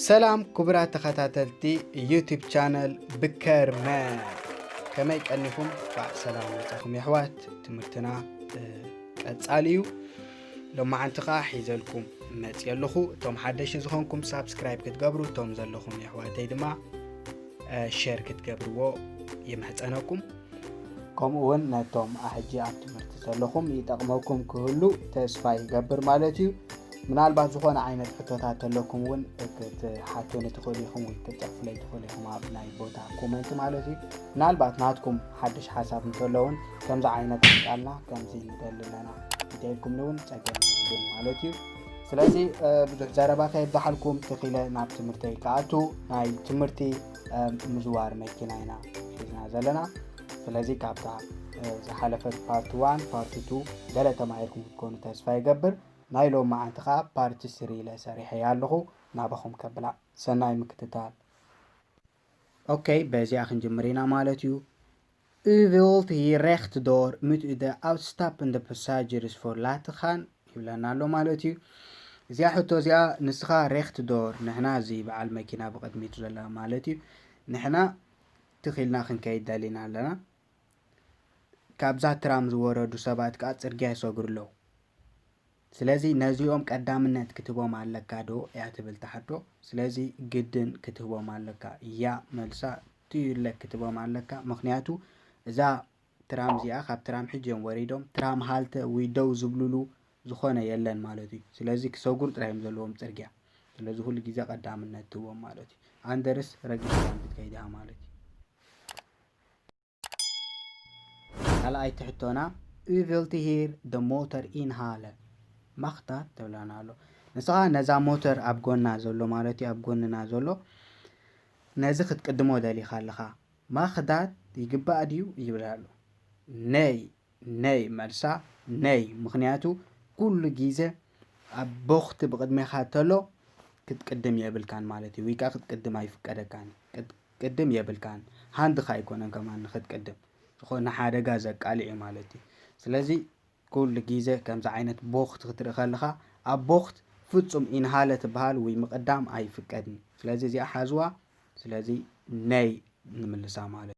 ሰላም ክቡራት ተኸታተልቲ ዩቲብ ቻነል ብከርመ ከመይ ቀኒኹም ዕ ሰላም መፃኹም የሕዋት ትምህርትና ቀፃሊ እዩ ሎማዓንቲ ከዓ ሒዘልኩም መፅ ኣለኹ እቶም ሓደሽ ዝኾንኩም ሳብስክራይብ ክትገብሩ እቶም ዘለኹም የሕዋተይ ድማ ሸር ክትገብርዎ ይምሕፀነኩም ከምኡ እውን ነቶም ኣሕጂ ኣብ ትምህርቲ ዘለኹም ይጠቕመኩም ክህሉ ተስፋ ይገብር ማለት እዩ ምናልባት ዝኾነ ዓይነት ሕቶታት ተለኩም እውን ክትሓቱኒ ትኽእሉ ኢኹም ወይ ክትፅሕፉለይ ትኽእሉ ኢኹም ኣብ ናይ ቦታ ኮመንት ማለት እዩ ምናልባት ናትኩም ሓድሽ ሓሳብ እንተለውን ከምዚ ዓይነት ቃልና ከምዚ ንደሊ ኣለና እንተኢልኩምኒ እውን ፀገም ይብሉን ማለት እዩ ስለዚ ብዙሕ ዘረባ ከየብዛሓልኩም ተኺለ ናብ ትምህርተይ ክኣቱ ናይ ትምህርቲ ምዝዋር መኪና ኢና ሒዝና ዘለና ስለዚ ካብታ ዝሓለፈት ፓርቲ ዋን ፓርቲ ቱ ገለ ተማሂርኩም ክትኮኑ ተስፋ ይገብር ናይ ሎማዓንቲ ከኣ ፓርቲ ስሪ ኢለ ሰሪሐያ ኣለኩ ናባኩም ከብላ ሰናይ ምክትታል። Ok በዚኣ ክንጅምር ኢና ማለት እዩ። U wilt hier recht door moet u de uitstappende passagers voor laten gaan ይብለና ኣሎ ማለት እዩ። እዚኣ ሕቶ እዚኣ ንስካ recht door ንሕና እዚ በዓል መኪና ብቅድሚቱ ዘላ ማለት እዩ ንሕና ትክ ኢልና ክንከይድ ደሊና ኣለና። ካብዛ ትራም ዝወረዱ ሰባት ከኣ ጽርግያ ይሰግሩ ኣለዉ። ስለዚ ነዚኦም ቀዳምነት ክትህቦም ኣለካ ዶ እያ ትብል እታ ሕቶ። ስለዚ ግድን ክትህቦም ኣለካ እያ መልሳ ትዩለ ክትህቦም ኣለካ ምኽንያቱ እዛ ትራም እዚኣ ካብ ትራም ሕጂ እዮም ወሪዶም ትራም ሃልተ ወይ ደው ዝብልሉ ዝኾነ የለን ማለት እዩ። ስለዚ ክሰጉሩ ጥራይ እዮም ዘለዎም ጽርግያ። ስለዚ ኩሉ ግዜ ቀዳምነት ትህቦም ማለት እዩ። ኣንደርስ ረጊሽ ክትከይድ እያ ማለት እዩ። ካልኣይቲ ሕቶና ኡቪልቲ ሂር ደ ሞተር ኢን ሃለ ማክታ ተብላና ኣሎ ንስኻ ነዛ ሞተር ኣብ ጎና ዘሎ ማለት እዩ ኣብ ጎንና ዘሎ ነዚ ክትቅድሞ ደሊኻ ኣለኻ ማክዳት ይግባእ ድዩ ይብል ኣሎ ነይ ነይ መልሳ ነይ ምክንያቱ ኩሉ ግዜ ኣብ ቦክቲ ብቅድሜኻ ተሎ ክትቅድም የብልካን ማለት እዩ ወይ ከዓ ክትቅድም ኣይፍቀደካን ቅድም የብልካን ሃንድካ ኣይኮነን ከማን ንክትቅድም ዝኮነ ሓደጋ ዘቃልዕ እዩ ማለት እዩ ስለዚ ኩሉ ግዜ ከምዚ ዓይነት ቦክት ክትርኢ ከለካ ኣብ ቦክት ፍጹም ኢንሃለ ትበሃል ወይ ምቅዳም ኣይፍቀድን ስለዚ እዚኣ ሓዝዋ ስለዚ ነይ ንምልሳ ማለት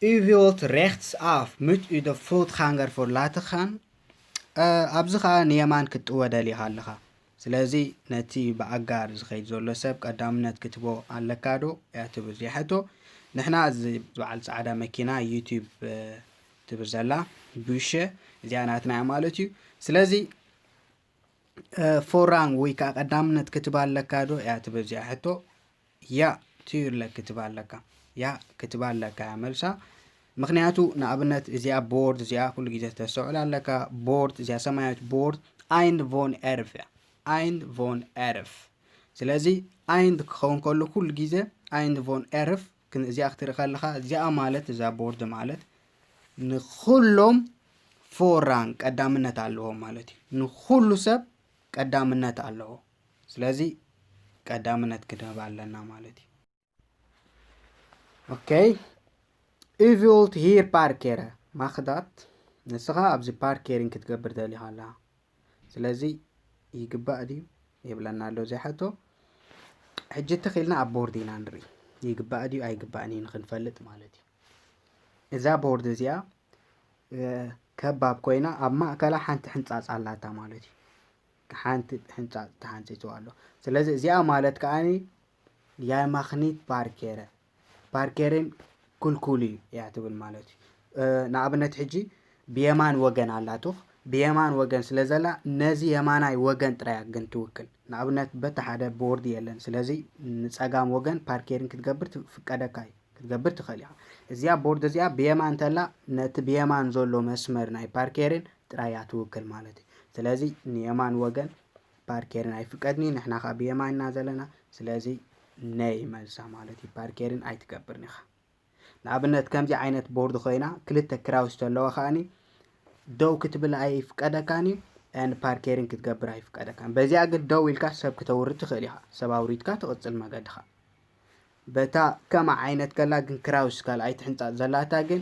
ዩ ቪልት ሬክትስ ኣፍ ምች ዩ ደ ፉልት ኻንገር ፎር ላተኻን ኣብዚ ኸኣ ንየማን ክትጥወ ደሊኻ ኣለኻ ስለዚ ነቲ ብኣጋር ዝኸይድ ዘሎ ሰብ ቀዳምነት ክትቦ ኣለካ ዶ እያ ትብል እዚኣ ሕቶ ንሕና እዚ በዓል ፃዕዳ መኪና ዩቲብ ትብል ዘላ ቡሸ እዚኣ ናትና እያ ማለት እዩ ስለዚ ፎራም ወይ ከዓ ቀዳምነት ክትባ ኣለካ ዶ እያ ትብል እዚኣ ሕቶ ያ ትዩለ ክትባ ኣለካ ያ ክትባ ኣለካ እያ መልሳ ምክንያቱ ንኣብነት እዚኣ ቦርድ እዚኣ ኩሉ ግዜ ተስተውዕል ኣለካ ቦርድ እዚኣ ሰማያዊት ቦርድ ኣይንድ ቮን ኤርፍ እያ ኣይንድ ቮን ኤርፍ ስለዚ ኣይንድ ክኸውን ከሉ ኩሉ ግዜ ኣይንድ ቮን ኤርፍ ግን እዚኣ ክትርኢ ከለኻ እዚኣ ማለት እዛ ቦርድ ማለት ንኩሎም ፎራን ቀዳምነት ኣለዎም ማለት እዩ ንኩሉ ሰብ ቀዳምነት ኣለዎ ስለዚ ቀዳምነት ክድህብ ኣለና ማለት እዩ ኦኬ ኢቪልት ሂር ፓርኬረ ማክዳት ንስኻ ኣብዚ ፓርኬሪን ክትገብር ደሊኻ ኣላ ስለዚ ይግባእ ድዩ የብለና ኣሎ እዚ ሕቶ ሕጂ ትኽኢልና ኣብ ቦርድ ኢና ንርኢ ይግባእ ድዩ ኣይግባእን እዩ ንክንፈልጥ ማለት እዩ እዛ ቦርድ እዚኣ ከባብ ኮይና ኣብ ማእከላ ሓንቲ ሕንፃፅ ኣላታ ማለት እዩ ሓንቲ ሕንፃፅ ተሓንፂፅዋ ኣሎ ስለዚ እዚኣ ማለት ከዓኒ የማኽኒት ባርኬረ ፓርኬሬን ኩልኩሊ እያ ትብል ማለት እዩ ንኣብነት ሕጂ ብየማን ወገን ኣላቶኽ ብየማን ወገን ስለ ዘላ ነዚ የማናይ ወገን ጥራያ ግን ትውክል ንኣብነት በቲ ሓደ ቦርድ የለን ስለዚ ንፀጋም ወገን ፓርኬሪን ክትገብር ትፍቀደካ እዩ ክትገብር ትኽእል ኢኻ እዚኣ ቦርድ እዚኣ ብየማን እንተላ ነቲ ብየማን ዘሎ መስመር ናይ ፓርኬሪን ጥራያ ትውክል ማለት እዩ ስለዚ ንየማን ወገን ፓርኬርን ኣይፍቀድኒ ንሕና ከ ብየማን ኢና ዘለና ስለዚ ነይ መልሳ ማለት እዩ ፓርኬርን ኣይትገብርን ኢኻ ንኣብነት ከምዚ ዓይነት ቦርድ ኮይና ክልተ ክራውስ ተለዋ ከኣኒ ደው ክትብል ኣይፍቀደካን እዩ ን ፓርኬርን ክትገብር ኣይፍቀደካን በዚኣ ግን ደው ኢልካ ሰብ ክተውርድ ትኽእል ኢኻ ሰብ ኣውሪድካ ትቕፅል መገድኻ በታ ከማ ዓይነት ከላ ግን ክራውስ ካልኣይቲ ሕንፃፅ ዘላታ ግን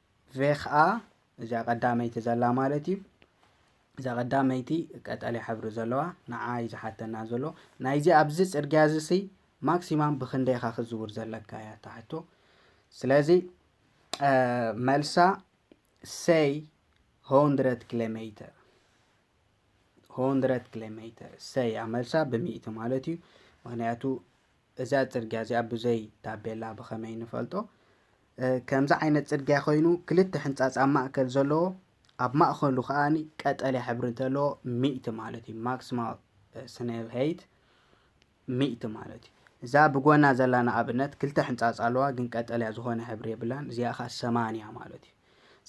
ቬክኣ እዚኣ ቀዳመይቲ ዘላ ማለት እዩ እዛ ቀዳመይቲ ቀጠልያ ሕብሪ ዘለዋ ንዓ እዩ ዝሓተና ዘሎ ናይዚ ኣብዚ ፅርግያ እዚ ሲ ማክሲማም ብክንደይ ኢኻ ክዝውር ዘለካ እያ ትሓቶ ስለዚ መልሳ ሰይ 100 ኪሎ ሜትር 100 ኪሎ ሜትር ሰይ እያ መልሳ ብሚእቲ ማለት እዩ ምክንያቱ እዛ ጽርግያ እዚኣ ብዘይ ታቤላ ብኸመይ ንፈልጦ? ከምዚ ዓይነት ጽርግያ ኮይኑ ክልተ ሕንጻጽ ኣብ ማእከል ዘለዎ ኣብ ማእከሉ ከኣ ቀጠልያ ሕብሪ እንተለዎ ሚእቲ ማለት እዩ ማክሲማል ስኔል ሄይት ሚእቲ ማለት እዩ እዛ ብጎና ዘላ ንኣብነት ክልተ ሕንጻጽ ኣለዋ ግን ቀጠልያ ዝኾነ ሕብሪ የብላን እዚኣ ከኣ ሰማንያ ማለት እዩ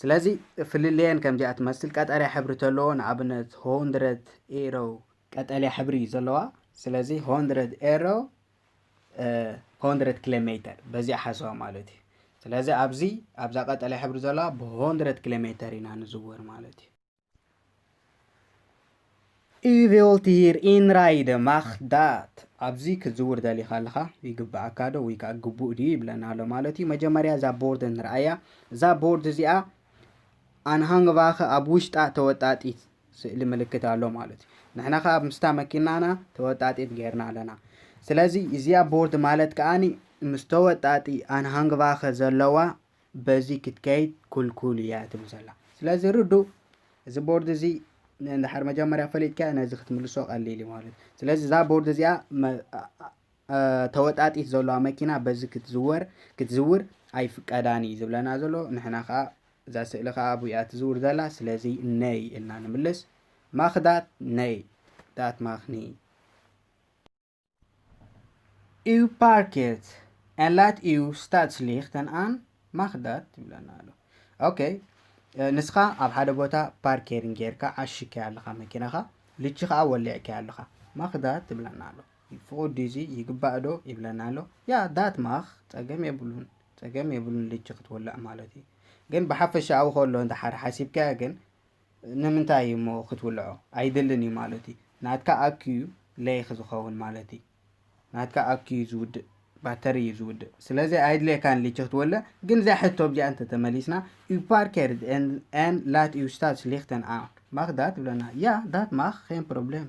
ስለዚ ፍልልየን ከምዚኣ ትመስል ቀጠልያ ሕብሪ ተለዎ ንኣብነት ሆንድረት ኤሮ ቀጠልያ ሕብሪ እዩ ዘለዋ ስለዚ ሆንድረድ ኤሮ ሆንድረድ ኪሎ ሜተር በዚኣ ሓሰዋ ማለት እዩ ስለዚ ኣብዚ ኣብዛ ቀጠልያ ሕብሪ ዘለዋ ብሆንድረድ ኪሎ ሜተር ኢና ንዝወር ማለት እዩ U wilt hier inrijden, mag dat? ኣብዚ ክትዝውር ደሊኻ ኣለኻ ይግብኣካ ዶ ወይ ከዓ ግቡእ ድዩ ይብለና ኣሎ ማለት እዩ መጀመርያ እዛ ቦርድ ንርኣያ እዛ ቦርድ እዚኣ ኣንሃንግባኸ ኣብ ውሽጣ ተወጣጢት ስእሊ ምልክት ኣሎ ማለት እዩ ንሕና ከኣ ምስታ መኪናና ተወጣጢት ገይርና ኣለና ስለዚ እዚኣ ቦርድ ማለት ከኣ ምስ ተወጣጢ ኣንሃንግቫኸ ዘለዋ በዚ ክትከይድ ኩልኩል እያ ትብል ዘላ ስለዚ ርዱ እዚ ቦርድ እዚ ንድሓር መጀመርያ ፈሊጥካ ነዚ ክትምልሶ ቀሊል እዩ ማለት ስለዚ እዛ ቦርድ እዚኣ ተወጣጢት ዘሎዋ መኪና በዚ ክትዝወር ክትዝውር ኣይፍቀዳን እዩ ዝብለና ዘሎ ንሕና ከኣ እዛ ስእሊ ከኣ ኣብኡ እያ ትዝውር ዘላ ስለዚ ነይ ኢልና ንምልስ ማኽ ዳት ነይ ዳት ማኽ ነይ እዩ ፓርኬት en laat እዩ stadslicht en aan mag dat ይብለና ኣሎ ኦኬ ንስኻ ኣብ ሓደ ቦታ ፓርኬሪን ጌርካ ዓሽከያ ኣለኻ መኪናኻ ልቺ ከዓ ወሊዕከያ ኣለኻ ማኽዳት ትብለና ኣሎ ፍቁድ ድዩ እዚ ይግባእ ዶ ይብለና ኣሎ ያ ዳት ማክ ጸገም የብሉን ጸገም የብሉን ልጂ ክትውላዕ ማለት እዩ ግን ብሓፈሻኡ ከሎ እንድሓር ሓሲብካዮ ግን ንምንታይ እዩ እሞ ክትውልዖ ኣይድልን እዩ ማለት እዩ ናትካ ኣክዩ ለይክ ዝኸውን ማለት እዩ ናትካ ኣክዩ ዝውድእ ባተሪ እዩ ዝውድእ ስለዚ ኣይድልየካን ልጂ ክትወልዕ ግን እዛ ሕቶ እዚኣ እንተተመሊስና ዩ ፓርከርድ ን ላት ዩ ስታት ስሊክተን ኣን ማክ ዳት ብለና ያ ዳት ማክ ን ፕሮብሌም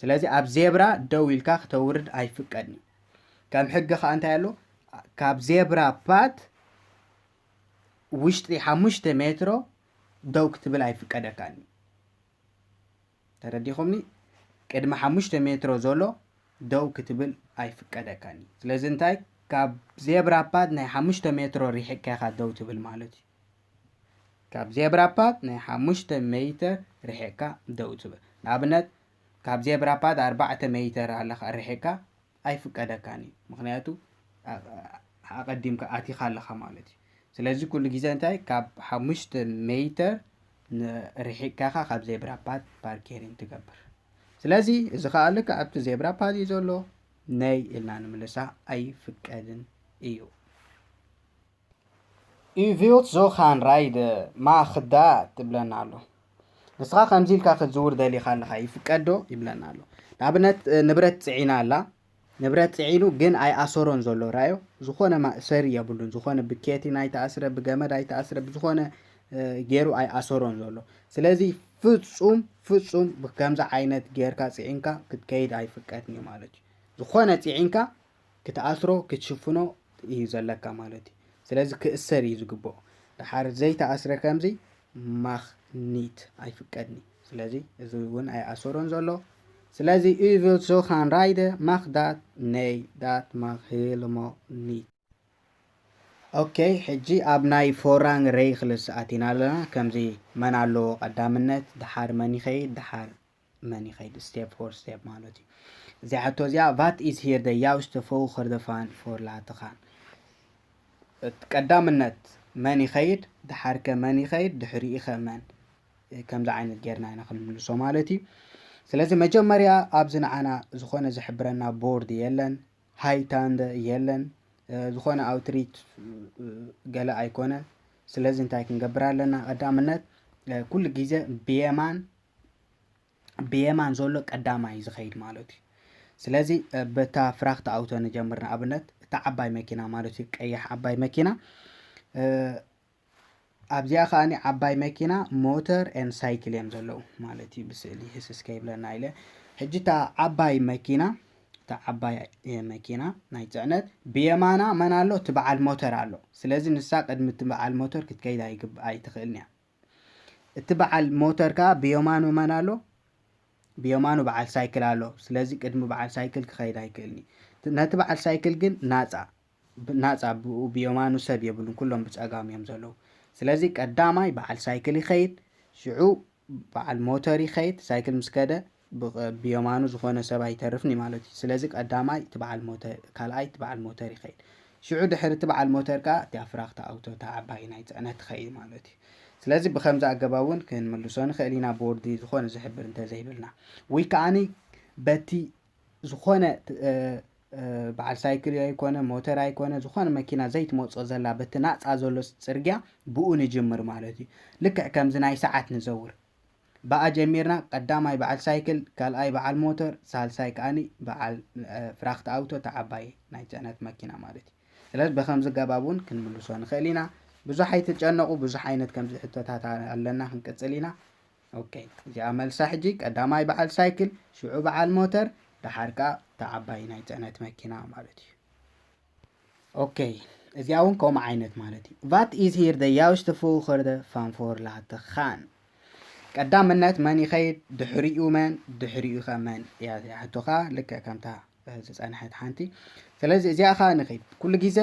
ስለዚ ኣብ ዜብራ ደው ኢልካ ክተውርድ ኣይፍቀድን እዩ ከም ሕጊ ከዓ እንታይ ኣሎ ካብ ዜብራ ፓት ውሽጢ ሓሙሽተ ሜትሮ ደው ክትብል ኣይፍቀደካን እዩ ተረዲኹምኒ ቅድሚ ሓሙሽተ ሜትሮ ዘሎ ደው ክትብል ኣይፍቀደካን እዩ ስለዚ እንታይ ካብ ዜብራ ፓት ናይ ሓሙሽተ ሜትሮ ሪሕቅካ ኢኻ ደው ትብል ማለት እዩ ካብ ዜብራ ፓት ናይ ሓሙሽተ ሜይተር ርሒቕካ ደው ትብል። ንኣብነት ካብ ዜብራ ፓት ኣርባዕተ ሜይተር ኣለኻ ርሒቕካ ኣይፍቀደካን እዩ። ምኽንያቱ ኣቐዲምካ ኣቲኻ ኣለኻ ማለት እዩ። ስለዚ ኩሉ ግዜ እንታይ ካብ ሓሙሽተ ሜይተር ርሒቕካ ኢኻ ካብ ዜብራ ፓት ፓርኬሪንግ ትገብር። ስለዚ እዚ ከኣ ልክዕ ኣብቲ ዜብራ ፓት እዩ ዘሎ ነይ ኢልና ንምልሳ ኣይፍቀድን እዩ። ኢቭዮት ዞኻን ራይደ ማ ክዳ ትብለና ኣሎ ንስኻ ከምዚ ኢልካ ክትዝውር ደሊኻ ኣለኻ ይፍቀዶ ይብለና ኣሎ ንኣብነት ንብረት ፅዒና ኣላ ንብረት ፅዒኑ ግን ኣይኣሰሮን ዘሎ ራዮ ዝኾነ ማእሰሪ የብሉን ዝኾነ ብኬቲን ኣይተኣስረ ብገመድ ኣይተኣስረ ብዝኾነ ገይሩ ኣይኣሰሮን ዘሎ ስለዚ ፍፁም ፍፁም ከምዚ ዓይነት ጌርካ ፅዒንካ ክትከይድ ኣይፍቀድን እዩ ማለት እዩ ዝኾነ ፅዒንካ ክትኣስሮ ክትሽፍኖ እዩ ዘለካ ማለት እዩ ስለዚ ክእሰር እዩ ዝግብኦ ድሓር ዘይተኣስረ ከምዚ ማኽ ኒት ኣይፍቀድኒ ስለዚ እዚ እውን ኣይኣሰሮን ዘሎ ስለዚ ዩቪል ዞኻን ራይደ ማኽ ዳት ነይ ዳት ማኽ ሄልሞ ኒት ኦኬ ሕጂ ኣብ ናይ ፎራንግ ረይክልስ ኣቲና ኣለና ከምዚ መን ኣለዎ ቀዳምነት ድሓር መን ይኸይድ ድሓር መን ይኸይድ ስቴፕ ፎር ስቴፕ ማለት እዩ እዚ ሕቶ እዚኣ ቫት ኢዝ ሂር ደ ያውስተ ፎኸር ደ ፋን ፎር ላተኻን ቀዳምነት መን ይኸይድ ድሓርከ መን ይኸይድ ድሕሪኢኸ መን ከምዚ ዓይነት ጌርና ኢና ክንምልሶ ማለት እዩ ስለዚ መጀመርያ ኣብዚ ንዓና ዝኾነ ዝሕብረና ቦርድ የለን ሃይታንደ የለን ዝኾነ ኣውትሪት ገለ ኣይኮነን ስለዚ እንታይ ክንገብር ኣለና ቀዳምነት ኩሉ ግዜ ብየማን ብየማን ዘሎ ቀዳማይ እዩ ዝኸይድ ማለት እዩ ስለዚ በታ ፍራክት ኣውቶ ንጀምር ንኣብነት እታ ዓባይ መኪና ማለት እዩ ቀያሕ ዓባይ መኪና ኣብዚኣ ከዓ ዓባይ መኪና ሞተር ን ሳይክል እዮም ዘለዉ ማለት እዩ ብስእሊ ህስስ ከይብለና ኢለ ሕጂ እታ ዓባይ መኪና እታ ዓባይ መኪና ናይ ፅዕነት ብየማና መን ኣሎ እቲ በዓል ሞተር ኣሎ ስለዚ ንሳ ቅድሚ እቲ በዓል ሞተር ክትከይድ ኣይትኽእልን እያ እቲ በዓል ሞተር ከኣ ብየማኑ መን ኣሎ? ብየማኑ በዓል ሳይክል ኣሎ። ስለዚ ቅድሚ በዓል ሳይክል ክኸይድ ኣይክእልን እዩ። ነቲ በዓል ሳይክል ግን ናጻ ናጻ ብኡ ብየማኑ ሰብ የብሉን ኩሎም ብጸጋሙ እዮም ዘለዉ። ስለዚ ቀዳማይ በዓል ሳይክል ይኸይድ ሽዑ በዓል ሞተር ይኸይድ ሳይክል ምስ ከደ ብየማኑ ዝኾነ ሰብ ኣይተርፍን እዩ ማለት እዩ። ስለዚ ቀዳማይ እቲ በዓል ሞተር፣ ካልኣይ እቲ በዓል ሞተር ይኸይድ። ሽዑ ድሕሪ እቲ በዓል ሞተር ከኣ እቲኣ ፍራኽ እታ ኣውቶ እታ ዓባይ ናይ ጽዕነት ትኸይድ ማለት እዩ። ስለዚ ብኸምዚ ኣገባብ እውን ክንምልሶ ንኽእል ኢና ቦርዲ ዝኾነ ዝሕብር እንተዘይብልና። ወይ ከኣ በቲ ዝኾነ በዓል ሳይክል ኣይኮነ ሞተር ኣይኮነ ዝኾነ መኪና ዘይትመጽኦ ዘላ በቲ ናጻ ዘሎ ጽርግያ ብኡ ንጅምር ማለት እዩ። ልክዕ ከምዚ ናይ ሰዓት ንዘውር። ባኣ ጀሚርና ቀዳማይ ባዓል ሳይክል ካልኣይ ባዓል ሞቶር ሳልሳይ ካኣኒ ባዓል ፍራክት ኣውቶ እታ ዓባይ ናይ ጽዕነት መኪና ማለት እዩ ስለዚ በከምዚ ገባብ ውን ክንምልሶ ንክእል ኢና ብዙሕ ኣይትጨነቁ ብዙሕ ዓይነት ከምዚ ሕቶታት ኣለና ክንቅጽል ኢና ኦኬ እዚኣ መልሳ ሕጂ ቀዳማይ ባዓል ሳይክል ሽዑ ባዓል ሞተር ደሓር ካኣ እታ ዓባይ ናይ ጽዕነት መኪና ማለት እዩ ኦከይ እዚኣ እውን ከምኡ ዓይነት ማለት እዩ ቫት ኢዝ ሂር ደ ያውሽተ ፎኸርደ ፋንፎር ላተ ኻን ቀዳምነት መን ይኸይድ ድሕሪኡ መን ድሕሪኡ ከ መን እያ እዚኣ ሕቶኻ ልክዕ ከምታ ዝፀንሐት ሓንቲ ስለዚ እዚኣ ከዓ ንኸይድ ኩሉ ግዜ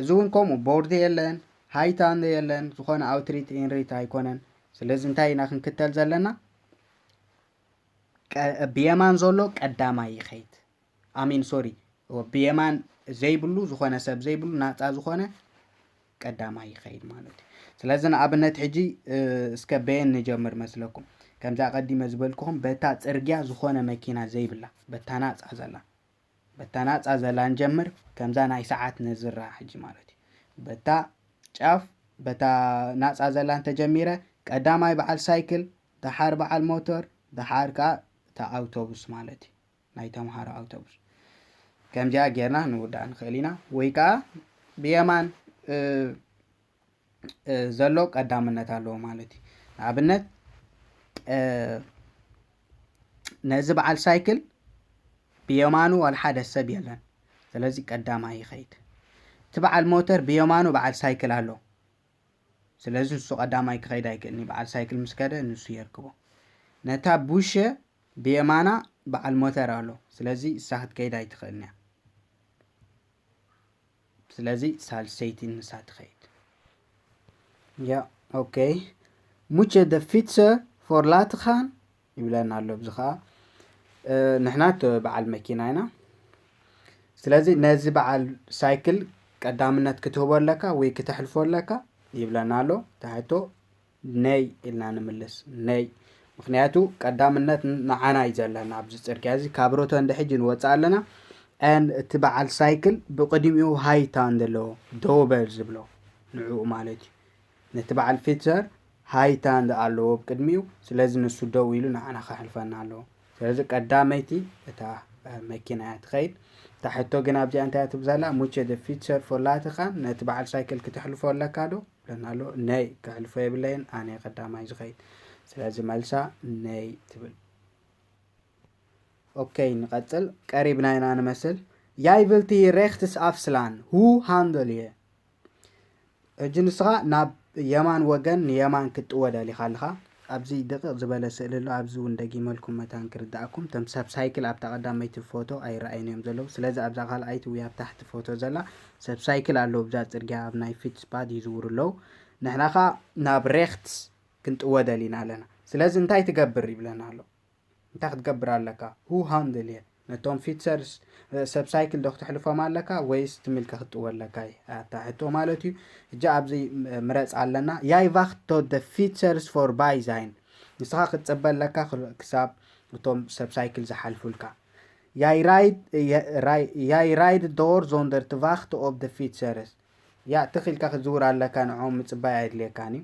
እዚ እውን ከምኡ ቦርድ የለን ሃይታ የለን ዝኾነ ኣውትሪት ኢንሪት ኣይኮነን ስለዚ እንታይ ኢና ክንክተል ዘለና ብየማን ዘሎ ቀዳማይ ይኸይድ ኣሜን ሶሪ ብየማን ዘይብሉ ዝኾነ ሰብ ዘይብሉ ናፃ ዝኾነ ቀዳማይ ይኸይድ ማለት እዩ ስለዚ ንኣብነት ሕጂ እስከ በየን ንጀምር መስለኩም ከምዚ ኣቐዲመ ዝበልክኹም በታ ፅርግያ ዝኾነ መኪና ዘይብላ በታ ናፃ ዘላ በታ ናፃ ዘላ ንጀምር ከምዛ ናይ ሰዓት ነዝራ ሕጂ ማለት እዩ በታ ጫፍ በታ ናፃ ዘላ እንተጀሚረ ቀዳማይ በዓል ሳይክል ደሓር በዓል ሞተር ደሓር ከዓ እታ ኣውቶቡስ ማለት እዩ ናይ ተምሃሮ ኣውቶቡስ ከምዚኣ ጌርና ንውዳእ ንኽእል ኢና ወይ ከዓ ብየማን ዘሎ ቀዳምነት ኣለዎ ማለት እዩ ንኣብነት ነዚ በዓል ሳይክል ብየማኑ ዋላ ሓደ ሰብ የለን ስለዚ ቀዳማይ ይኸይድ እቲ በዓል ሞተር ብየማኑ በዓል ሳይክል ኣሎ ስለዚ ንሱ ቀዳማይ ክኸይድ ኣይክእልን እዩ በዓል ሳይክል ምስ ከደ ንሱ የርክቦ ነታ ቡሸ ብየማና በዓል ሞተር ኣሎ ስለዚ እሳ ክትከይድ ኣይትኽእልን እያ ስለዚ ሳልሰይቲ ንሳ ትኸይድ ያ ኦኬ ሙቸ ደ ፊትሰ ፎር ላትኻን ይብለና ኣሎ እዚ ከዓ ንሕና በዓል መኪና ኢና ስለዚ ነዚ በዓል ሳይክል ቀዳምነት ክትህቦ ኣለካ ወይ ክተሕልፎ ኣለካ ይብለና ኣሎ ታሕቶ ነይ ኢልና ንምልስ ነይ ምክንያቱ ቀዳምነት ንዓና እዩ ዘለና ኣብዚ ፅርግያ እዚ ካብ ሮቶ እንደ ሕጂ ንወፅእ ኣለና ን እቲ በዓል ሳይክል ብቅድሚኡ ሃይታ እንደለዎ ደው በል ዝብሎ ንዕኡ ማለት እዩ ነቲ በዓል ፊትዘር ሃይታ እንዳ ኣለዎ ብ ቅድሚኡ ስለዚ ንሱ ደው ኢሉ ንዓና ከሕልፈና ኣለዎ ስለዚ ቀዳመይቲ እታ መኪና እያ ትኸይድ እታ ሕቶ ግን ኣብዚኣ እንታይ እያ ትብል ዘላ ሙቸ ደ ፊትዘር ፎላትኻን ነቲ በዓል ሳይክል ክትሕልፎ ኣለካ ዶ ብለና ኣሎ ነይ ክሕልፎ የብለይን ኣነ ቀዳማይ ዝኸይድ ስለዚ መልሳ ነይ ትብል ኦኬይ ንቐጽል ቀሪብና ኢና ንመስል ያይቭልቲ ሬክትስ ኣፍስላን ሁ ሃንደል እየ ሕጂ ንስኻ ናብ የማን ወገን ንየማን ክትጥወል ኣሊኻ ኣለኻ ኣብዚ ድቕቕ ዝበለ ስእሊ ኣሎ ኣብዚ እውን ደጊመልኩም መታን ክርዳእኩም ተም ሰብ ሳይክል ኣብታ ቀዳመይቲ ፎቶ ኣይረኣይን እዮም ዘለዉ ስለዚ ኣብዛ ካልኣይቲ ወይ ኣብ ታሕቲ ፎቶ ዘላ ሰብ ሳይክል ኣለዉ ብዛ ፅርግያ ኣብ ናይ ፊትስፓድ ይዝውሩ ኣለዉ ንሕና ከዓ ናብ ሬክትስ ክንጥወደል ኢና ኣለና ስለዚ እንታይ ትገብር ይብለና ኣሎ እንታይ ክትገብር ኣለካ who handle it ነቶም ፊትሰርስ ሰብ ሳይክል ዶ ክተሕልፎም ኣለካ ወይስ ትምልከ ክትጥወ ኣለካ እዩ ኣታ ሕቶ ማለት እዩ እጂ ኣብዚ ምረፅ ኣለና ያይ ቫክት ቶ ደ ፊትሰርስ ፎር ባይ ዛይን ንስኻ ክትፅበ ኣለካ ክሳብ እቶም ሰብ ሳይክል ዝሓልፉልካ ያይ ራይድ ያይ ራይድ ዶር ዞንደር ትቫክት ኦብ ደ ፊትሰርስ ያ ትኽኢልካ ክትዝውር ኣለካ ንዖም ምፅባይ ኣይድልየካን እዩ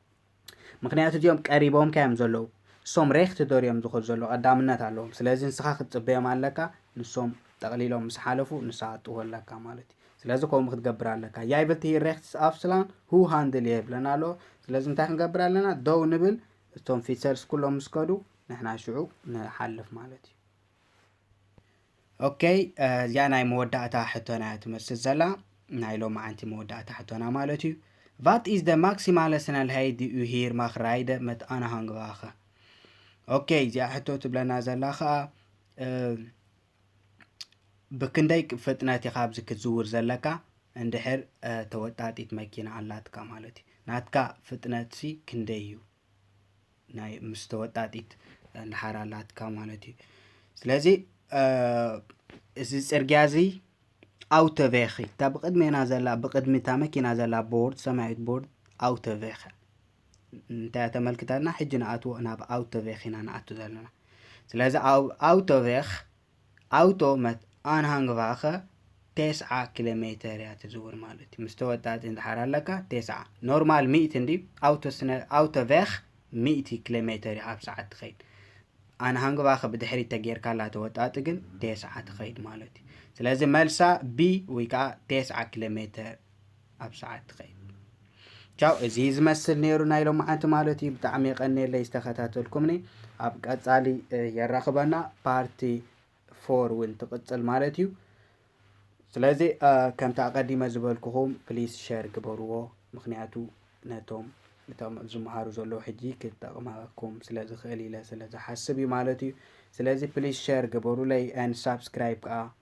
ምኽንያቱ እዚኦም ቀሪቦምካ እዮም ዘለዉ እሶም ሬክት ዶር እዮም ዝኸዱ ዘለዉ ቀዳምነት ኣለዎም ስለዚ ንስኻ ክትጽበዮም ኣለካ ንሶም ጠቕሊሎም ምስ ሓለፉ ንስኻ ክትጥወ ኣለካ ማለት እዩ ስለዚ ከምኡ ክትገብር ኣለካ ያይብልቲ ሂር ሬክትስ ኣፍስላን ሁ ሃንድል የብለና ኣሎ ስለዚ እንታይ ክንገብር ኣለና ደው ንብል እቶም ፊትሰርስ ኩሎም ምስ ከዱ ንሕና ሽዑ ንሓልፍ ማለት እዩ ኦከይ እዚኣ ናይ መወዳእታ ሕቶና እያ ትመስል ዘላ ናይ ሎማዓንቲ መወዳእታ ሕቶና ማለት እዩ ቫት ኢዝ ደ ማክሲማለ ስነልሀይድ እዩ ሂር ማክ ራይደ መት ኣናሃንግባኸ ኦከይ እዚኣ ሕቶ ትብለና ዘላ ከዓ ብክንደይ ፍጥነት ኢኻ ኣብዚ ክትዝውር ዘለካ እንድሕር ተወጣጢት መኪና ኣላትካ ማለት እዩ ናትካ ፍጥነትሲ ክንደይ እዩ ናይ ምስ ተወጣጢት እንድሓር ኣላትካ ማለት እዩ ስለዚ እዚ ፅርግያ እዚ ኣውተቬኺ እታ ብቅድሜና ዘላ ብቅድሚ እታ መኪና ዘላ ቦርድ ሰማያዊት ቦርድ ኣውተቬኺ እንታይ ተመልክተና ሕጂ ንኣትዎ ናብ ኣውተቬኽ ኢና ንኣቱ ዘለና ስለዚ ኣውተቬኽ ኣውቶ መት ኣንሃንግቫኸ ቴስዓ ኪሎ ሜተር እያ ትዝውር ማለት እዩ ምስ ተወጣጢ እንድሓር ኣለካ ቴስዓ ኖርማል ሚእቲ እንዲ ኣውቶ ስነ ኣውቶ ቬኽ ሚእቲ ኪሎ ሜተር እዩ ኣብ ሰዓት ትኸይድ ኣንሃንግቫኸ ብድሕሪት ተጌርካላ ተወጣጢ ግን ቴስዓ ትኸይድ ማለት እዩ ስለዚ መልሳ ቢ ወይ ከዓ ቴስዓ ኪሎ ሜተር ኣብ ሰዓት ትኸይድ ቻው እዚ ዝመስል ነይሩ ናይ ሎምዓንቲ ማለት እዩ ብጣዕሚ የቀኒየለይ ዝተኸታተልኩምኒ ኣብ ቀፃሊ የራኽበና ፓርቲ ፎር እውን ትቕፅል ማለት እዩ ስለዚ ከምቲ ኣቐዲመ ዝበልኩኹም ፕሊስ ሸር ግበርዎ ምክንያቱ ነቶም እቶም ዝመሃሩ ዘለዉ ሕጂ ክጠቕመኩም ስለ ዝኽእል ኢለ ስለ ዝሓስብ እዩ ማለት እዩ ስለዚ ፕሊስ ሸር ግበሩለይ ን ሳብስክራይብ ከዓ